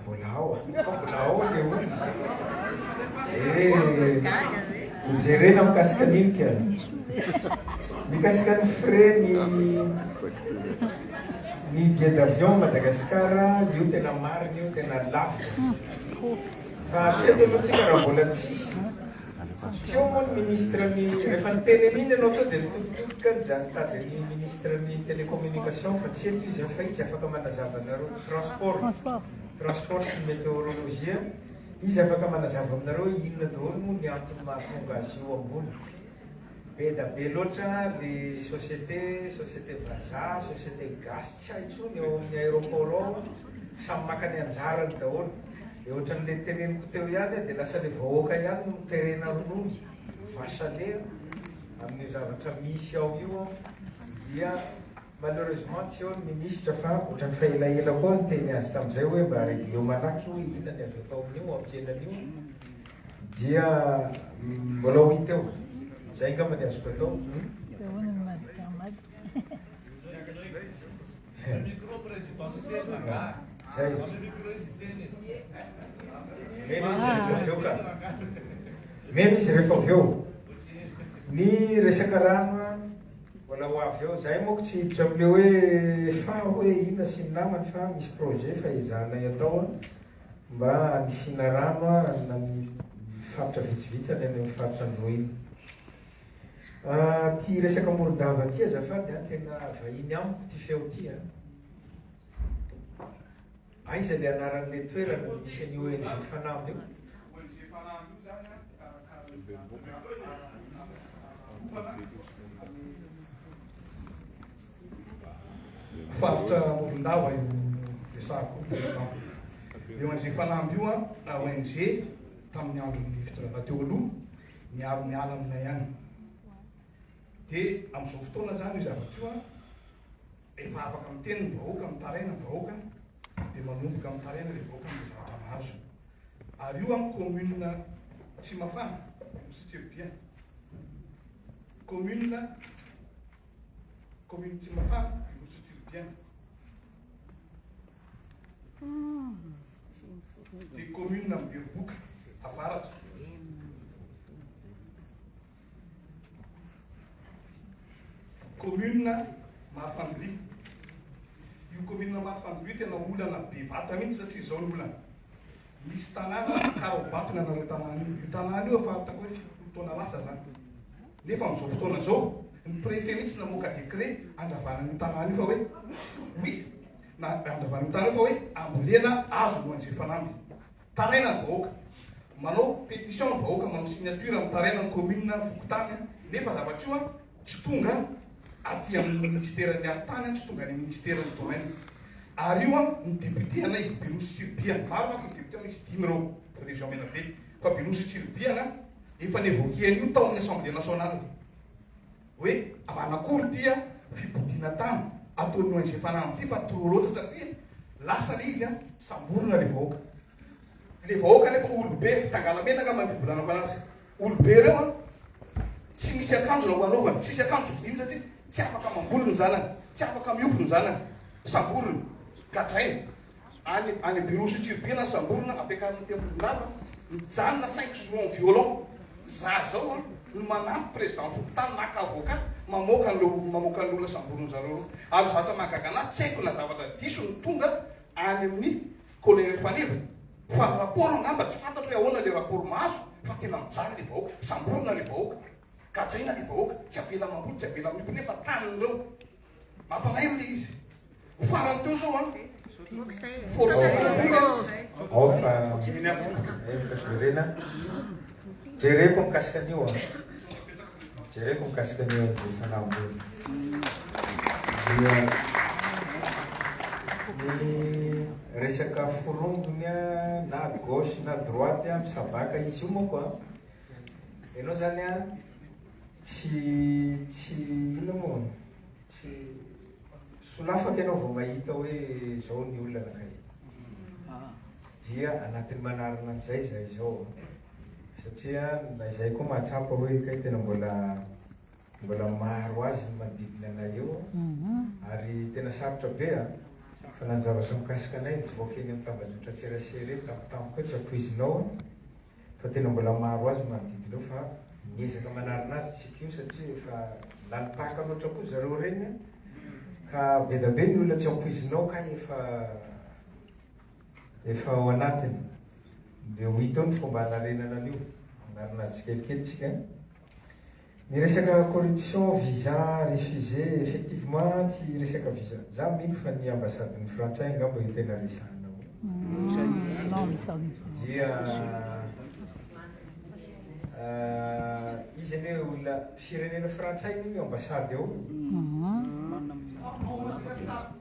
Mbola ao, mbola ao le olona. Eh, jerena mikasika an'iny ka. Mikasika ny frais ny ny billet d'avion Madagascar, io tena marina io, tena lafo. Fa hatreto aloha tsika raha mbola tsisy Tsy eo moa ny ministre ny, rehefa niteny an'iny ianao teo dia nitoditodika nijaly nitady an'ny ministre ny telecommunication fa tsy eto izy an, fa izy afaka manazava anareo, transport, transport sy ny meteorologie an, izy afaka manazava aminareo hoe inona daholo moa ny antony mahatonga azy io ambony. Be da be loatra le société, société vazaha, société gasy tsy hay tsony ao amin'ny aéroport ao an, samy maka ny anjarany daholo, dia ohatran'ilay teneniko teo ihany an, dia lasa le vahoaka ihany no terena ronono, vache à lait an, amin'io zavatra misy ao io an, dia Malheureusement tsy eo ny ministra fa otrany fa elaela koa aho niteny azy tamzay hoe mba regleo malaky io hoe ina ny avy atao amin'io ampihenana io dia mbola ho hita eo. Zay angamba ny azoko atao. Meno izy rehefa avy eo ny resaka rano a. Mbola ho avy eo zay moko tsy hiditra amle hoe fa hoe ina sy ny namany fa misy projet fa ezahanay atao a mba anisiana rano a amina ny faritra vitsivitsy any aminy faritra androhina a ty resaka morodava ty azafady a tena vahiny amiko ty feo ty a. Aiza le anaran'le toerana misy an'io ONG Fanamby io? ONG Fanamby io zany an, karakaran'ny Faritra Morondava io resahako io Président. Le ONG Fanamby io an, ONG tamin'ny andron'ny fitondrana teo aloha niaro ny ala aminay any. De amin'izao fotoana zany io zavatra io an, Rehefa afaka miteny ny vahoaka, mitaraina ny vahoaka, dia manomboka mitaraina ilay vahoaka amin'ilay zavatra mahazo. Ary io amin'ny commune Tsimafana, Nosy Tsiribihina, commune commune Tsimafana, Nosy Tsiribihina, dia commune Beroboka, Avaratra. Commune Marofandoria, io commune Marofandoria io tena olana be vata mihitsy satria izao ny olana, misy tanàna karaobatina anareo tanàna io, io tanàna io efa ataoko hoe fitopolo taona lasa zany, nefa amin'izao fotoana izao ny préfet mihitsy namoaka décret handravana an'io tanàna io fa hoe oui, na handravana io tanàna io fa hoe ambolena azo no hanjifana aminy. Taraina ny vahoaka. Manao pétition ny vahoaka manao signature mitaraina ny commune ny fokontany nefa zavatra io tsy tonga aty amin'ny ministère ny aro tany tsy tonga any amin'ny ministère ny domaine ary io ny député anay Beroa sy Tsiribihana maro manko ny député misy dimy ireo région Menabe fa Beroa sy Tsiribihana efa nevoquer an'io tao amin'ny assemblée nationale hoe manakory ity fipodiana tany ataon'ny ONG Fanamby ity fa trop loatra satria lasa le izy samborina le vahoaka. Le vahoaka nefa olobe, Tangalamena angamba ny fivolanako anazy. Olobe ireo an, tsy misy akanjo na ho anaovany, tsisy akanjo vidiany satria tsy afaka mamboly ny zanany, tsy afaka mihompy ny zanany, samborina, gadraina. Any any bureau suturbie na samborina ampiakarina aty ambony lava mijanona cinq jours en violon za zao an no manampy président fokontany maka avocat mamoaka an'ireo mamoaka an'ireo olona samboriny zareo ireo ary zavatra mahagaga anahy tsy haiko na zavatra diso no tonga any amin'ny colonel faneva fa ny rapport angamba tsy fantatro hoe ahoana le rapport mahazo fa tena mijaly le vahoaka samborina le vahoaka gadraina le vahoaka tsy avela mamboly tsy avela miompy nefa tanin'ireo Mampalahelo le izy. Ho farany teo zao an. Ao fa efa jerena. Jereko mikasika an'io an. Jereko mikasika an'io an ny fanahambony. Ny resaka forongony an, na gauche na droite an, misabaka izy io manko an. Ianao zany an. Tsy tsy inona moa? Tsy solafaka ianao vao mahita hoe zao ny olana kay. Dia anatin'ny manarina an'izay zay izao satria na izay koa mahatsapa hoe kay tena mbola mbola maro azy ny manodidina anay eo ary tena sarotra be a! Fa nanjavatra mikasika anay mivoaka eny amin'ny tambajotran-tserasera eny tampotampoka eo tsy ampoizinao. Fa tena mbola maro azy ny manodidina eo fa miezaka manarina azy tsika io satria efa lalim-pahaka loatra koa zareo ireny an! Ka bedabe ny olona tsy ampoizinao kay efa efa ao anatiny! Dia ho hita eo ny fomba hanarenana an'io, hanarina azy tsikelikely tsika an! Ny resaka corruption, visa refusé, effectivement tsy resaka visa, za mino fa ny ambassade ny frantsay angamba io tena resahana ao dia izy anie hoe olona firenena frantsay anie io ambassade ao io.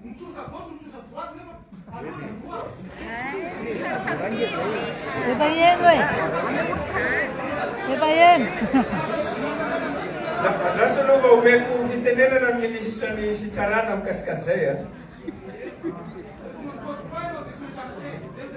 Mitsosa gauche mitsosa droite nefa aloha droite. Efa eno e. Efa eno. Andraso aloha mba omeko fitenenana ny minisitra ny fitsarana mikasika an'izay a.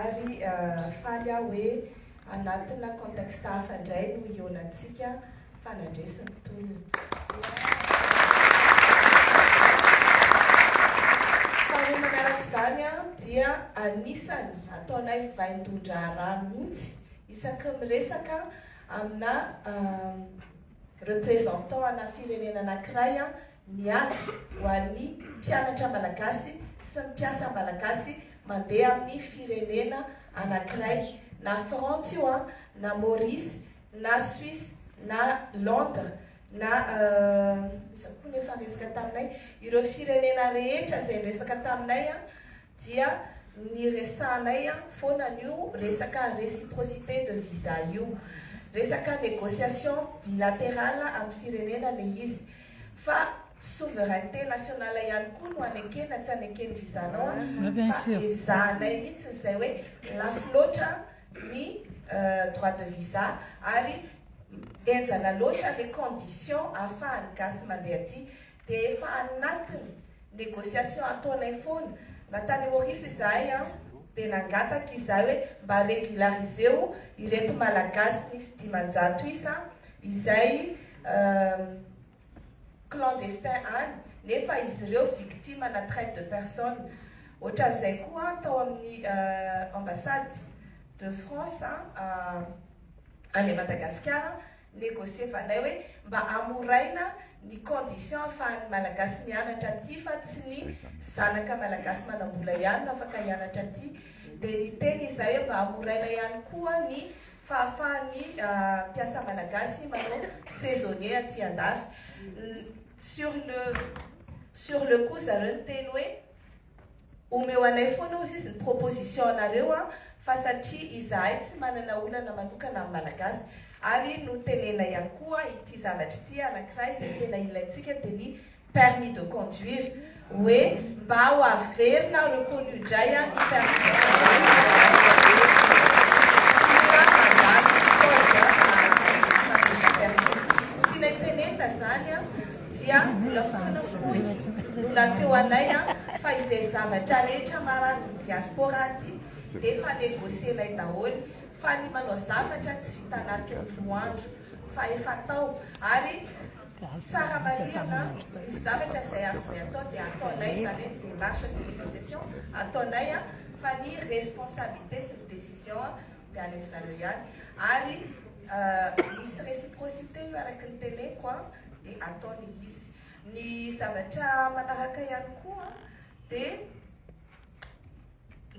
Ary faly aho hoe anatina contexte hafa indray no hihaonantsika fa nandresy ny tolona. Faharoa manaraka izany dia anisany ataonay vaindohan-draharaha mihitsy isaky ny miresaka amina representant ana firenena anankiray ny ady ho an'ny mpianatra malagasy sy ny mpiasa malagasy mandeha amin'ny firenena anankiray, na Frantsa io an, na Maurice, na Suisse, na Londres, na iza koa ny efa niresaka taminay? ireo firenena rehetra izay niresaka taminay an, dia niresahanay an foana an'io resaka réciprocité de visa io, resaka négociation bilatérale amin'ny firenena ilay izy. Fa souveraineté nationale ihany koa no anekena tsy aneken'ny vizanao an, fa ezahanay mihitsy izay hoe lafo loatra ny droit de visa ary henjana loatra les conditions ahafahan'ny gasy mandeha aty dia efa anatiny negociation ataonay foana na tany Maurice izahay an dia nangataka izahay hoe mba regulariseo ireto malagasy nisy dimanjato isa izay clandestin any nefa izy ireo victime ana traite de personne ohatran'izay koa tao amin'ny ambassade de France any Madagasikara negocievanay hoe mba amoraina ny condition ahafahan'ny malagasy mianatra aty fa tsy ny zanaka malagasy manambola ihany no afaka hianatra aty dia niteny izahay hoe mba amoraina ihany koa ny fahafahan'ny mpiasa malagasy manao saisonnier aty andafy sur le sur le coup zareo niteny hoe omeo anay foana hozy izy ny proposition anareo a fa satria izahay tsy manana olana manokana amin'ny malagasy ary notenenay ihany koa ity zavatra ity anankiray izay tena ilaintsika dia ny permis de conduire hoe mba ho averina reconnu indray an ny permis de conduire tenenina zany an dia mbola fotoana fohy no nateo anay an fa izay zavatra rehetra marary ny diaspora aty dia efa negocienay daholo fa ny manao zavatra tsy vitan'ato ny roa andro fa efa tao ary Tsara marihana ny zavatra izay azonay atao dia ataonay izany hoe ny démarche sy ny négociation ataonay fa ny responsabilité sy ny décision dia any amin'zareo ihany ary misy réciprocité io araky ny teneniko dia ataony izy. Ny zavatra manaraka ihany koa dia.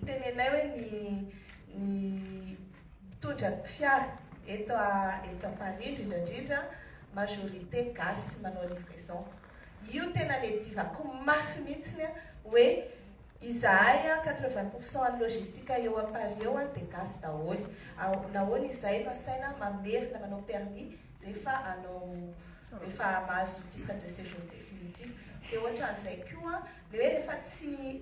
Tenenay hoe ny ny mpitondra ny fiara eto a eto a Paris indrindra indrindra majorité gasy manao livraison. Io tena le divako mafy mihitsiny a hoe izahay a quatre vingt pour cent an'ny logistique eo a Paris eo a dia gasy daholo. Ao nahoana izahay no asaina mamerina manao permis rehefa hanao rehefa mahazo titre de séjour définitif. Dia ohatran'izay koa le hoe rehefa tsy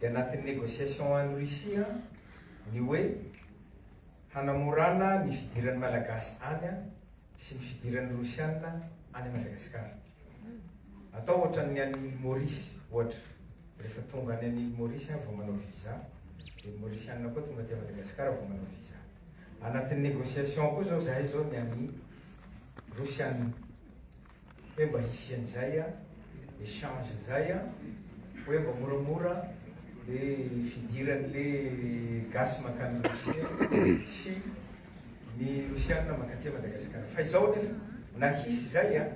dia anatin'ny negociation any Russie ny hoe hanamorana ny fidiran'ny Malagasy any sy ny fidiran'ny Rosiana any Madagasikara. Atao ohatran'ny any Île Maurice ohatra, rehefa tonga any an'Île Maurice vao manao visa, dia ny Mauriciana koa tonga aty Madagasikara vao manao visa. Anatin'ny negociation koa zao zahay zao ny an'i Rosiana. hoe mba hisy an'izay échange zay hoe mba moramora le fidiran'le gasy makany Rosia sy ny Rosiana mankaty Madagasikara fa izao anefa na hisy zay an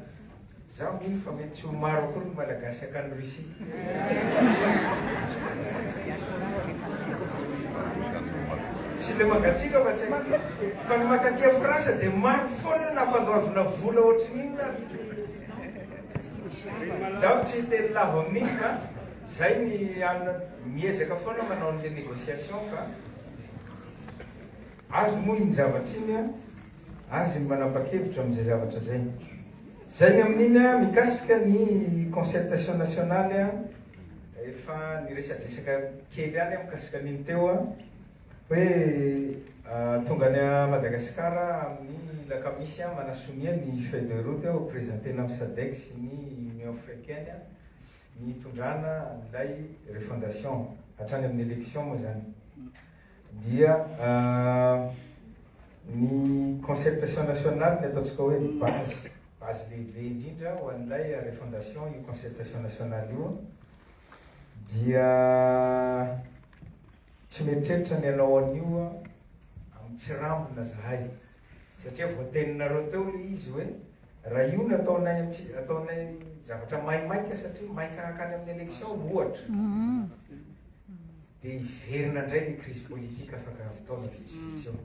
za mino fa mety tsy ho maro akory ny malagasy akany Russie Tsy le mangatsiaka fa tsy aiko. Fa ny mankaty a France dia maro foana io nampandoavina vola ohatry ny inona ary. Izaho tsy hiteny lava amin'iny fa izay ny alina miezaka foana manao an'ilay négociation fa azy moa iny zavatra iny an, azy ny manapa-kevitra amin'izay zavatra izay. Zay ny amin'iny an! Mikasika ny concertation nationale an! Efa niresadresaka kely ihany aho mikasika an'iny teo an! Hoe tonga any Madagasikara amin'ny lakamisy an! Manasonia ny feuille de route ho presentena amin'ny Sadec sy ny Union Africaine an! Ny hitondrana an'ilay refondation hatrany amin'ny election moa zany! dia ny concertation nationale ny ataontsika hoe ny base base lehibe indrindra ho an'ilay refondation io concertation nationale io dia tsy mieritreritra ny hanao an'io amin'ny tsirambina zahay satria voateninareo teo le izy hoe raha io no ataonay amitsy ataonay zavatra maimaika satria maika hakany amin'ny élection ohatra mm-hmm. Dia hiverina indray ny crise politique afaka avy taona vitsivitsy eo.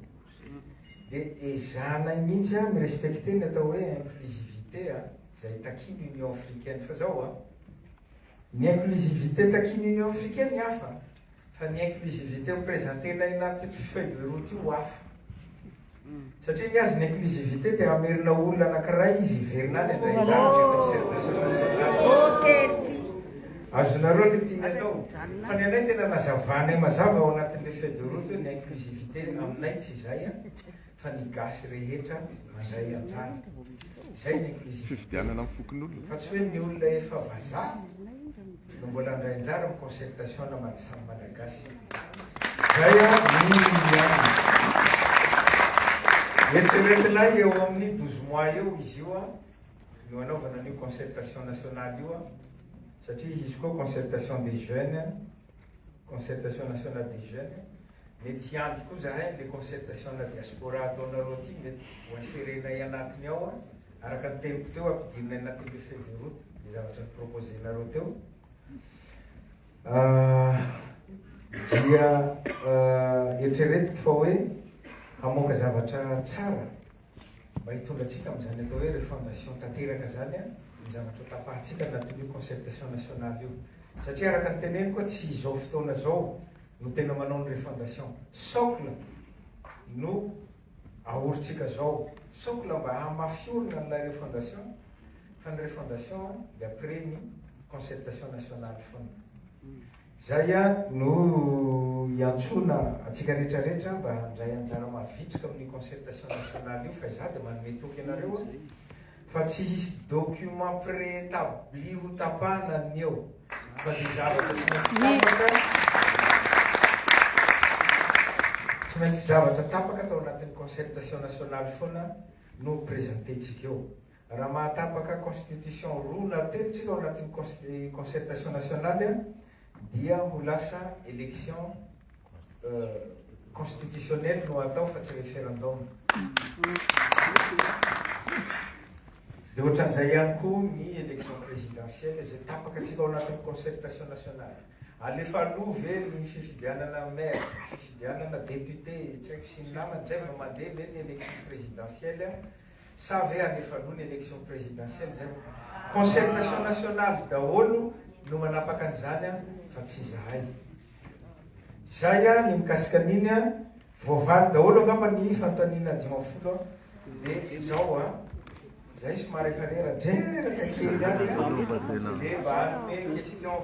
Dia ezahanay mihitsy an mi-respecter ny atao hoe inclusivité an, izay takian'ny Union africaine. Fa izao an, ny inclusivité takian'ny Union africaine hafa, fa ny inclusivité ho presenter-nay anaty feuille de route io hafa. Satria ny azy ny inclusivité te hamerina olona anakiray izy hiverina any handray anjara amin'ny concertation nationale. Azonareo le tiany atao. Fa ny anay tena nazavanay mazava ao anatin'le feuille de route hoe ny inclusivité aminay tsy izay a, fa ny gasy rehetra mandray anjara. Izay ny inclusivité. Fifidianana amin'ny fokonolona. Fa tsy hoe ny olona efa vazaha. no mbola handray anjara amin'ny concertation naman'ny samy Malagasy. Izay an, mino ihany. Eritreretina eo amin'ny douze mois eo izy io an, no hanaovana an'io concertation nationale io an, satria hisy koa concertation des jeunes, concertation nationale des jeunes. Mety hiandry koa zahay an'ilay concertation ana diaspora ataonareo aty, mety ho inserer-nay anatiny ao an. Araka ny teniko teo ampidirina any anatin'ny le feuille de route le zavatra ni-proposer-nareo teo dia eritreretiko fa hoe hamoaka zavatra tsara mba hitondra antsika amin'izany atao hoe refondation tanteraka zany an, ny zavatra hotapahantsika anatin'io concertation nationale io. Satria araka ny teneniko hoe tsy izao fotoana izao no tena manao ny refondation. Socle no Ahorintsika zao sokla mba hamafiorina an'ilay refondation fa ny refondation dia après ny concertation nationale fona. Zay ihany no iantsoana antsika rehetra rehetra mba handray anjara mavitrika amin'ny concertation nationale io fa izaho dia manome toky anareo Fa tsy hisy document préétabli ho tapahana ny eo fa dia zavatra tsy maintsy tapaka, tsy maintsy zavatra tapaka tao anatin'ny concertation nationale foana no ho presenter-tsika eo. Raha mahatapaka constitution roa na telo tsika ao anatin'ny concertation nationale, Dia ho lasa election constitutionnelle no atao fa tsy referendum. Dia ohatran'izay ihany koa ny election présidentielle izay tapaka tsy tao anatin'ny concertation nationale. Alefa aloha ve ny fifidianana maire, fifidianana député, tsy haiko sy ny namany, izay vao mandeha ve ny election présidentielle? Sa ve alefa aloha ny election presidentielle zay vao. Concertation nationale daholo no manapaka an'izany an fa tsy izahay. Zay an ny mikasika an'iny an. Voavaly daholo angamba ny fanontaniana dimy ambin'ny folo an. Dia izao an. Zay somary efa rera dreraka kely an. Dia mba hanome question.